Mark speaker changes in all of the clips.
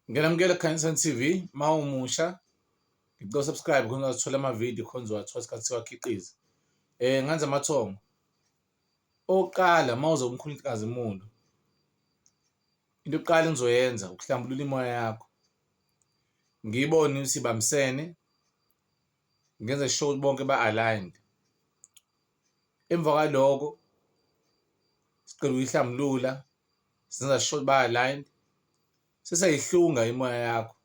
Speaker 1: Ngenamukela Khanyisani TV uma umusha ngicela subscribe khona uzothola amavidiyo khona uzowathola isikhathi siwakhiqiza eh nganze amathongo oqala uma uzomkhulikazi muntu into yokuqala engizoyenza ukuhlambulula imoya yakho ngibone ukuthi bamsene ngenze sure ukuthi bonke ba-aligned Emva kwaloko siqeda ukuyihlambulula senza sure ukuthi baya-aligned, seseyayihlunga imimoya yakho.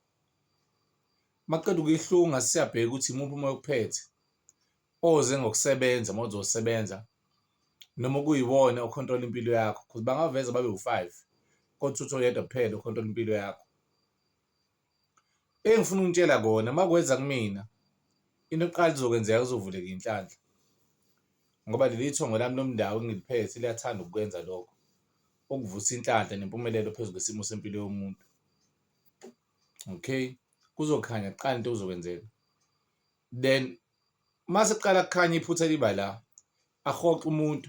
Speaker 1: Uma uqeda ukuyihlunga sesiyabheka ukuthi imuphi umoya okuphethe oze ngokusebenza uma uzosebenza noma okuyiwona o-control-a impilo yakho cause bangaveza babe wu-five kodwa uthole oyedwa kuphela o-control-a impilo yakho. Engifuna ukunitshela kona uma kweza kumina into yokuqala ezokwenzeka kuzovuleka iy'nhlanhla ngoba leli thongo lami lomndeni engiliphethe liyathanda ukukwenza lokho, ukuvusa inhlanhla nempumelelo phezu kwesimo sempilo yomuntu. Okay, kuzokhanya kuqala into okuzokwenzeka then uma sekuqala kukhanya iphutha liba la, akurhoxe umuntu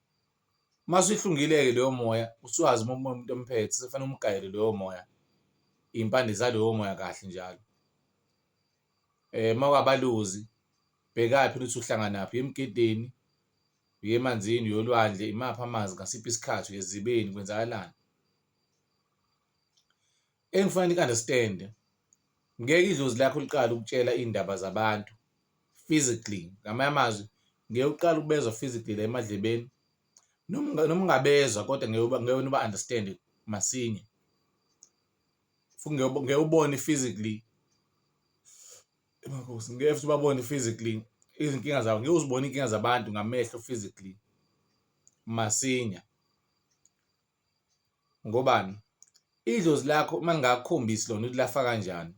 Speaker 1: Mase uhlungile-ke loyo moya usuwazi uma umuntu emphethe sekufanele umgayele loyo moya iy'mpande zaloyo moya kahle njalo eh mawabaluzi bhekaphi ukuthi uhlanganaphi emgedeni uye emanzini uyolwandle imaphi amanzi ngasiphi isikhathi uyezibeni kwenzakalani Engifuna ni understand ngeke idlozi lakho liqale ukutshela iy'ndaba zabantu physically ngamanye amazwi ngeke uqale ukubezwa physically la emadlebeni noma noma ungabezwa kodwa ngeke ngeke niba understand masinya futhi ngeke ngeke ubone physically emakhosi ngeke futhi ubabone physically izinkinga zabo ngeke uzibone iy'nkinga zabantu ngamehlo physically masinya. Ngobani? Idlozi lakho uma lingakukhombisi lona ukuthi lafa kanjani,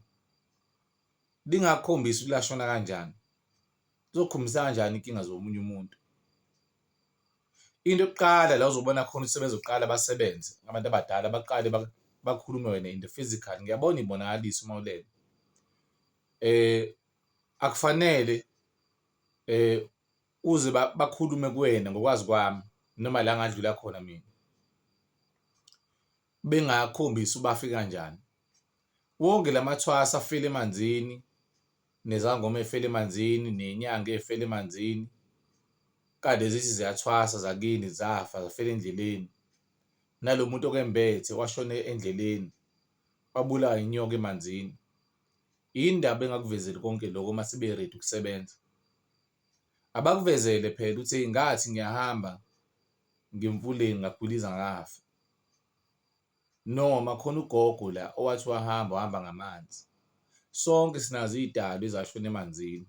Speaker 1: lingakukhombisi ukuthi lashona kanjani, lizokukhombisa kanjani inkinga zomunye umuntu? Into yokuqala la uzobona khona ukuthi sebezoqala basebenze abantu abadala baqale bakhulume wena in the physical. Ngiyabona ibonakalisa uma ulele eh akufanele eh uze bakhulume kuwena ngokwazi kwami noma la ngadlula khona mina bengakhombisi ubafi kanjani wonke lamathwasa afele emanzini nezangoma efele emanzini nenyanga efele emanzini kade zithi ziyathwasa zakini zafa zafela endleleni nalo muntu okembethe washone endleleni wabulawa inyoka emanzini yini ndaba engakuvezeli konke lokho uma sibe ready ukusebenza Abakuvezele phela ukuthi eyi ngathi ngiyahamba ngemfuleni ngagwiliza ngafa. Noma khona ugogo la owathi wahamba wahamba ngamanzi. Sonke sinazo iy'dalwa ezashona emanzini.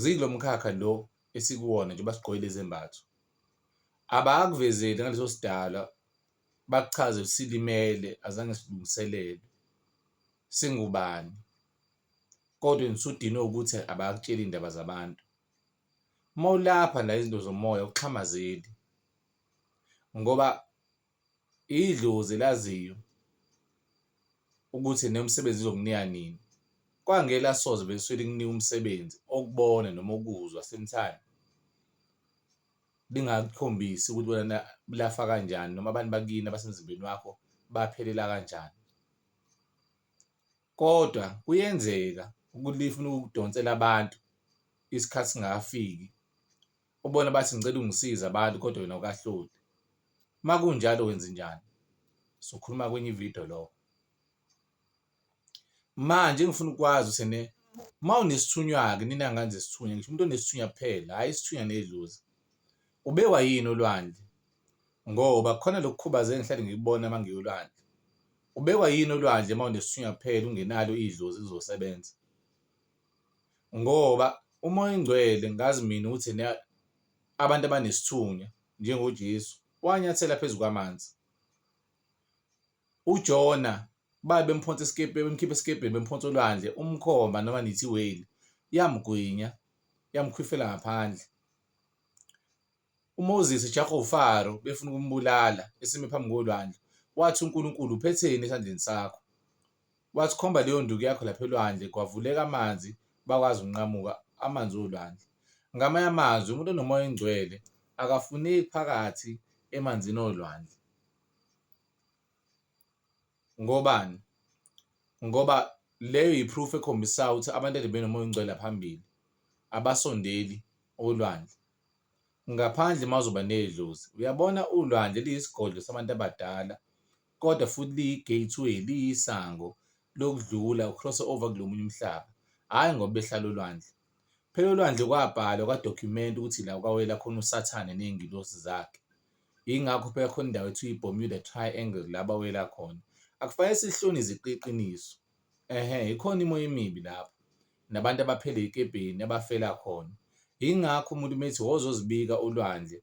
Speaker 1: Zikulo mkhakha lo esikuwona njengoba sigqoke lezi zembatho. Abakuvezeli ngaleso sidalwa bakuchaze silimele azange silungiselele singubani. kodwa usudinwe ukuthi abakutsheli iy'ndaba zabantu. Uma ulapha la izinto zomoya awuxhamazeli ngoba idlozi elaziyo ukuthi nemisebenzi izokunika nini. Kwangeke lasoze vele lisuke likunike umsebenzi okubona noma ukuzwa sometimes lingakukhombisi ukuthi lona lafa kanjani noma abantu bakini abasemzimbeni wakho baphelela kanjani. Kodwa kuyenzeka ukuthi lifuna ukukudonsela abantu isikhathi singakafiki, ubona bathi ngicela ungisize abantu kodwa wena awukahloli. Uma kunjalo wenzenjani? Sokhuluma kwenye ividiyo lokho. Manje engifuna ukwazi usene uma unesithunywa-ke nina ngane zesithunywa, ngisho umuntu onesithunywa kuphela, hhayi isithunywa nedlozi. Ubekwa yini olwandle? Ngoba khona lokukhubaza engihlale ngikubona uma ngiya olwandle. Ubekwa yini olwandle uma unesithunywa kuphela ungenalo idlozi lizosebenza? Ngoba umoya ongcwele ngazi mina ukuthi abantu abanesithunywa njengoJesu wanyathela phezu kwamanzi. UJona babe bemphonsa esikebheni bemkhipha esikebheni bemphonsa olwandle umkhomba noma nithi whale yamgwinya yamkhwifela ngaphandle UMoses ejaha uFaro befuna ukumbulala esime phambi kolwandle, wathi, UNkulunkulu uphetheni esandleni sakho? Wathi, Khomba leyo nduku yakho lapha elwandle, kwavuleka amanzi, bakwazi ukunqamuka amanzi olwandle. Ngamanye amazwi, umuntu onomoya oyingcwele akafuneki phakathi emanzini olwandle. Ngobani? Ngoba leyo yi-proof ekhombisayo ukuthi abantu ekade benomoya ongcwele phambili abasondeli olwandle ngaphandle uma uzoba nedlozi. Uyabona ulwandle liyisigodlo sabantu abadala kodwa futhi liyi-gateway, liyisango lokudlula u-cross over kulo munye umhlaba, hhayi ngoba behlala olwandle. Phela olwandle kwabhalwa kwadokhumenta ukuthi la kwawela khona uSathane ney'ngilosi zakhe. Yingakho phela khona indawo ekuthiwa i-Bermuda Triangle la bawela khona. Akufanele silihlone iziqu iqiniso. Ehhe, ikhona imoya emibi lapho, nabantu abaphele ey'kebheni abafela khona. Yingakho umuntu uma ethi woza uzozibika olwandle,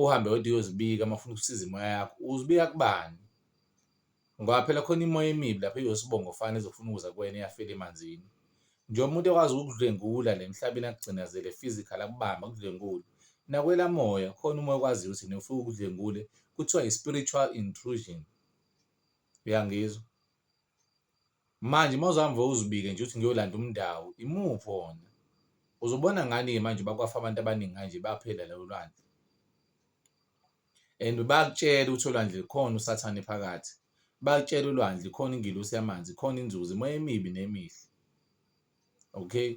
Speaker 1: uhambe wedwa uyozibika uma ufuna ukusiza imoya yakho, uzibika kubani? Ngoba phela khona imimoya emibi lapha eyosibongo fana ezofuna ukuza kuwena eyafela emanzini. Nje umuntu ekwazi ukudlwengula le mhlabeni akugcinazele physical akubamba akudlwengule. Nakwela moya khona umoya okwaziyo ukuthi nofika ukudlwengule kuthiwa i-spiritual intrusion. Uyangizwa? Manje uma uzohambe uzibike nje ukuthi ngiyolanda umndawo, imuphi wona? Uzobona ngani-ke manje bakwafa abantu abaningi kanje baphela lelo lwandle? and bayakutshela ukuthi olwandle khona usathane phakathi bakutshela ulwandle khona ingelosi yamanzi khona inzuzo imoya emibi nemihle okay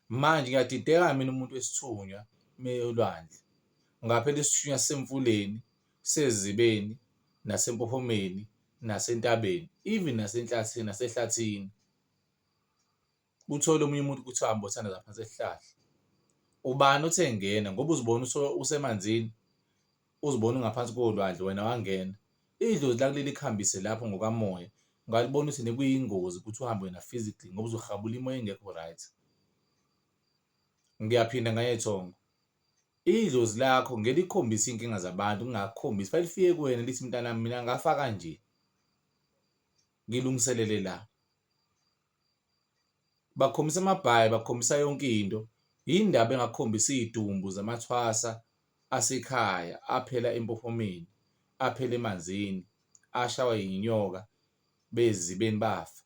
Speaker 1: manje ngiyadideka mina umuntu wesithunywa meyolwandle ngaphela isithunywa semfuleni sezibeni nasempophomeni nasentabeni even nasenhlathini nasehlathini uthole omunye umuntu ukuthi uhambe othanda zaphansi esihlahla ubani othe ngena ngoba uzibona usemanzini uzibona ungaphansi kolwandle wena wangena idlozi lakuleli kuhambise lapho ngokamoya ungalibona ukuthi nekuyingozi ukuthi uhambe wena physically ngoba uzohabula imoya engekho right ngiyaphinda ngayethongo idlozi lakho ngelikhombisa inkinga zabantu ngingakhombisi fanele lifike kuwena lithi mntana mina ngafa kanje ngilungiselele la bakhombisa amabhayi bakhombisa yonke into yini ndaba bengakhombisi iy'dumbu zamathwasa asekhaya aphela empophomeni aphela emanzini ashawa yinyoka bezibeni bafa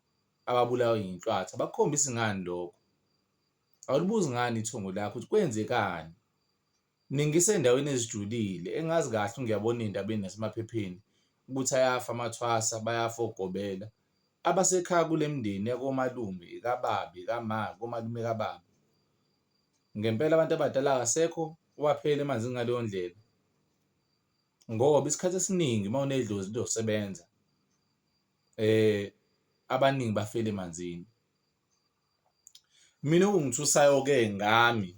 Speaker 1: ababulawe yinhlwathi abakhombisi ngani lokho awulibuzi ngani ithongo lakho ukuthi kwenzekani. Ningisendaweni ezijulile engazi kahle ngiyabona ey'ndabeni nasemaphepheni ukuthi ayafa amathwasa, bayafa ogobela. Abasekhaya kule mindeni yakomalume kababa, kama, komalume kababa. Ngempela abantu abadala akasekho owaphela emanzini ngaleyo ndlela ngoba isikhathi esiningi uma unedlozi lizosebenza abaningi bafela emanzini. mina okungithusayo-ke ngami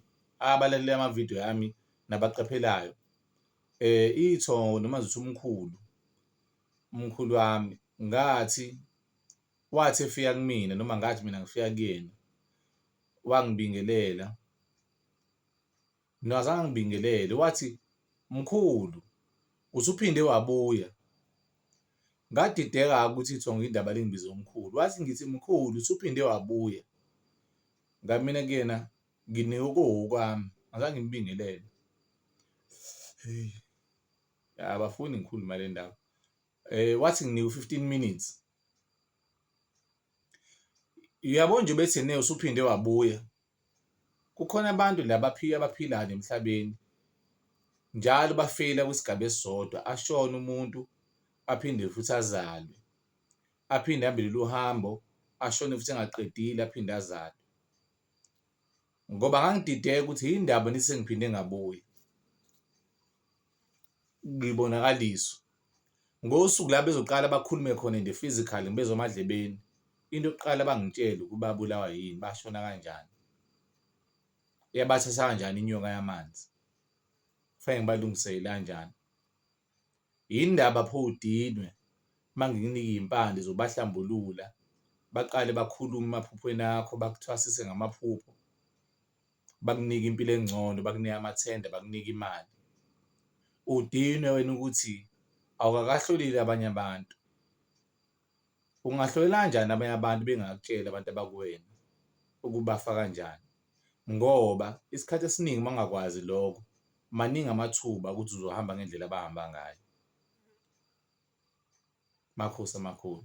Speaker 1: abalaleli amavidiyo yami nabaqaphelayo eh ithongo noma zithi umkhulu umkhulu wami ngathi wathi efika kumina noma ngathi mina ngifika kuyena wangibingelela Mina akazange angibingelele wathi mkhulu usuphinde wabuya ngadideka-ke ukuthi kuthiwa ngiyindaba lingibize umkhulu wathi ngithi mkhulu usuphinde wabuya ngamina kuyena nginike okuwokwami azange ngibingelele hey abafuni ngikhuluma le ndaba eh wathi nginike u-15 minutes uyabo nje bethi ne usuphinde wabuya Kukhona abantu la baphila abaphilayo nemhlabeni njalo bafela kwisigaba esisodwa ashone umuntu aphinde futhi azalwe aphinde ahambe lolu hambo ashone futhi engaqedile aphinde azalwe ngoba ngangidideka ukuthi yini ndaba nisengiphinde ngabuya. ngibonakaliswe ngosuku la bezoqala bakhulume khona in the physical ngibezwa emadlebeni into yokuqala bangitshela ukuba bulawa yini bashona kanjani yabathatha kanjani inyoka yamanzi kufanele ngibalungisele kanjani yini ndaba pho udinwe mangikunike impande zobahlambulula baqale bakhulume emaphuphweni akho bakuthwasise ngamaphupho bakunike impilo engcono, bakunike amathenda, bakunike imali. Udinwe wena ukuthi awukakahlolile abanye abantu. Ungahlolela kanjani abanye abantu bengakutsheli abantu abakuwena ukubafa kanjani? Ngoba isikhathi esiningi uma ungakwazi lokho, maningi amathuba ukuthi uzohamba ngendlela abahamba ngayo. Makhosi amakhulu.